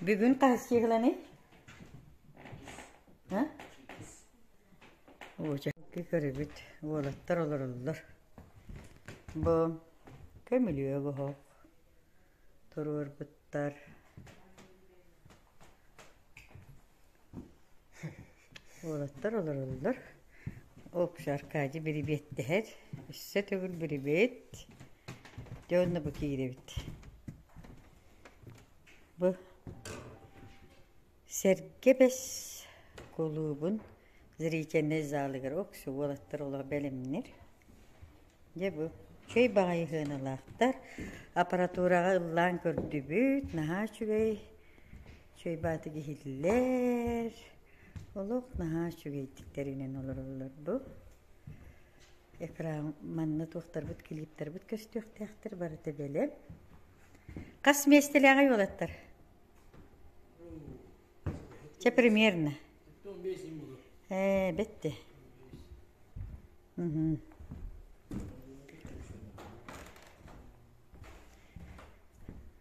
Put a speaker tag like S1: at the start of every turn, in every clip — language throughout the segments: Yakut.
S1: Бүгүн таһыссыыгыланы Уочакки көрүбүт уолаттар олороллор. Бу көмүлүөк оһох туруорбуттар. Уолаттар олороллор. Общий Аркадий бирибиэттэһэр. Өссө төгүл бирибиэт. Дьэ онно бу киирэбит. Бу Сэргэбэс кулуубун зрительнай залыгар оксу уолаттар олох бэлэмнир. Дьэ бу чөй баҕайы хыаналаахтар. Аппаратураҕа ыллаан көрдүбүт, наһаа үчүгэй. чуйбаатык иһиллэр олох наһаа үчүгэйдик тэринэн олороллор бу экран манна туохтарбыт клиптарбыт көстүөхтээхтэр барыта бэлэм хас миэстэлээҕий уолаттар чэ примерно ээ бетте угу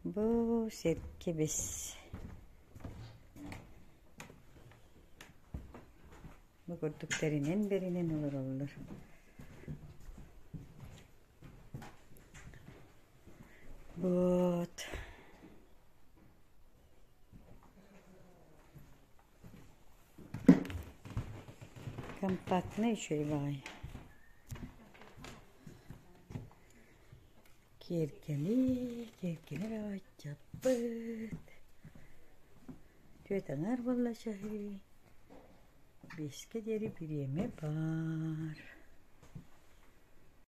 S1: Бу сир кибис Бу курдук тэринэн-бэринэн олороллор Вот Компактный еще и баҕайы Киэргэли, киэргэлэ эрэ баччаппыт. Түөрт аҥаар буолла чаһы. Биэскэ диэри бириэмэ баар.